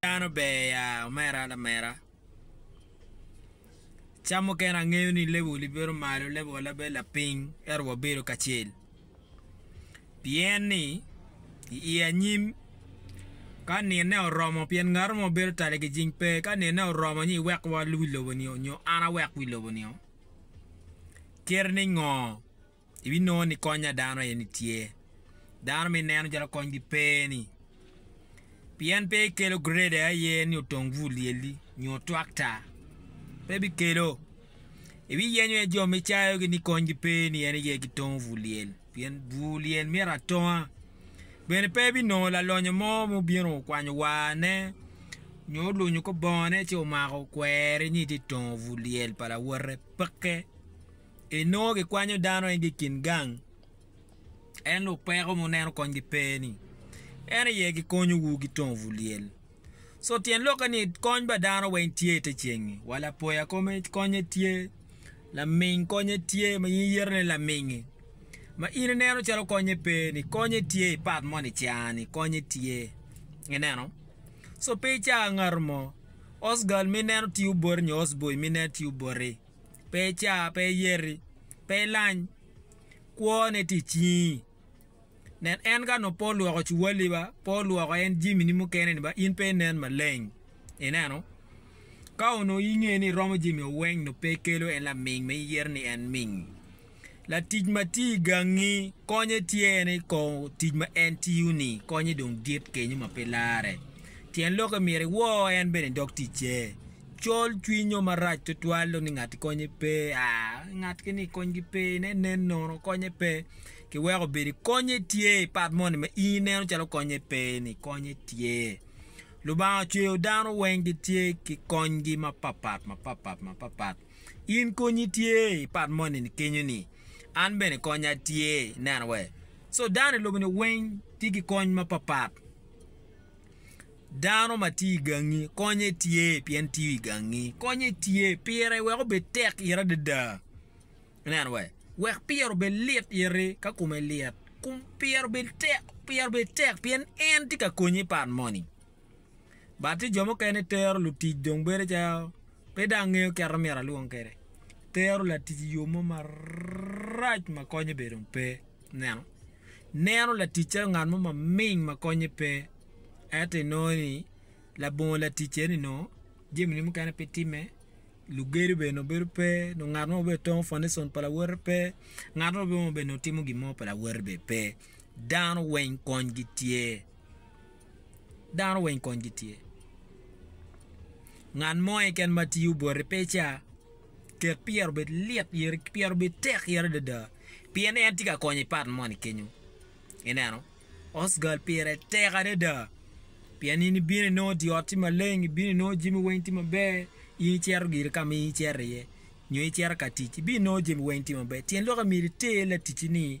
Dano ber ya omera lamera. Cam mukene angeyo ni level i bedo malo level wa labe lapiny ento wa bedo kacel pien ni i anyim ka nine oromo pien ngato mo bedo tale ki jing pe ka nine oromo ni iwek wa wi lobo ni onyo an awek wi lobo ni o kit ni ngo. ibinongo ni kony a dano aye ni tye. Dano ma ineno calo konygi pe ni, pien pe ikelo grade aye ni otong bur lyelli nyo twakta, pe bikelo. Ibiyenyo aye jo ma icayogi ni konygi pe ni en aye gitongo bur lyel, pien bur lyel myero atonga. Bene pe ibinongo lalonyo mo ma obino okwanyo warne nyo olunyo kor bongone ci omako okweri ni itye ka tongo bur lyel pa lawote, peke. Enongo gikwanyo dano igi i kin gang, ento opeko ma oneno konygi pe ni en aye gikonyowu ki tongowu lyel. So tyen lokke ni kony pa dano weng tye i te cengngi, wa lapoya kome konye tye, laming konye tye ma in iyeto ni lamingi ma in ineno calo konye pe ni konye tye i pat moni ica ni konye tye ineno. Co pe ica ngato mo osgal ma ineno tiyo boti nyo osboy ma ineno tiyo boti. pe ica, pe iyeti, pe ilany, kwo ne tye icingi. Nen en ka onongo pe olwoko cuwali ba, pe olwoko en jamini mukene ni ba in pe inen maleng. Ineno? Ka onongo inge ni iromo jami-o weng onongo pe ikelo en laming ma iyero ni en ming. Latic ma tye i gangi konye tye ni kong tic ma en tiyo ni konye dong dit kenyo ma pe lare. Tyen loke myero iwor en bene i dog ticce. Col cwiny o marac twatwal dong ni ngat konye pe, aa, ngat kini konygi pe, nen nen nono konye pe. Kiweko obedo i konye tye i pat moni ma in ineno calo konye pe ni konye tye. Lubanga ocweyo dano weng gitye ki konygi mapapat mapapat mapapat. In konyi tye i pat moni kenyo ni an bene konya tye neno wai so dano i lobo ni weng tye ki kony ma papat dano ma tye i gangi konye tye pien tiyo i gangi konye tye pire wek obed tek ite adada ineno wai wek pire obed lit ite ka kome lit pire obed tek pien en tye ka konyi i pat moni. Bati jo mukene tero lutic dong bedo calo pe dong angeyo kit ma myero alwong kwede. Tero latic i yo mo marac ma konye bene dong pe. Ineno? Ineno latic calo ngat mo maming ma konye pe. Ento inongo ni labongo latic eni onongo jamine mukene pe timme, lugedo bene dong bedo pe, nyo ngat mo ma bedo tongo fanition pa lawote pe, ngat mo bene ma bedo timo gin mo pa lawote bene pe. Dano weng konygi tye. dano weng kony gi tye ngat mo keken ma tiyo boti pe ca ket pyero obed lit pyero obed tek yere adada pien en tye ka konyo i pat moni kenyo ineno osgal pire tek adada pien in ibino inongo dye ot tye maleng ibino inongo jami weng tye maber in icito gire ka ma in icito iye nyo icito ka tic ibino inongo jami weng tye maber tyen lok myero iter laticci ni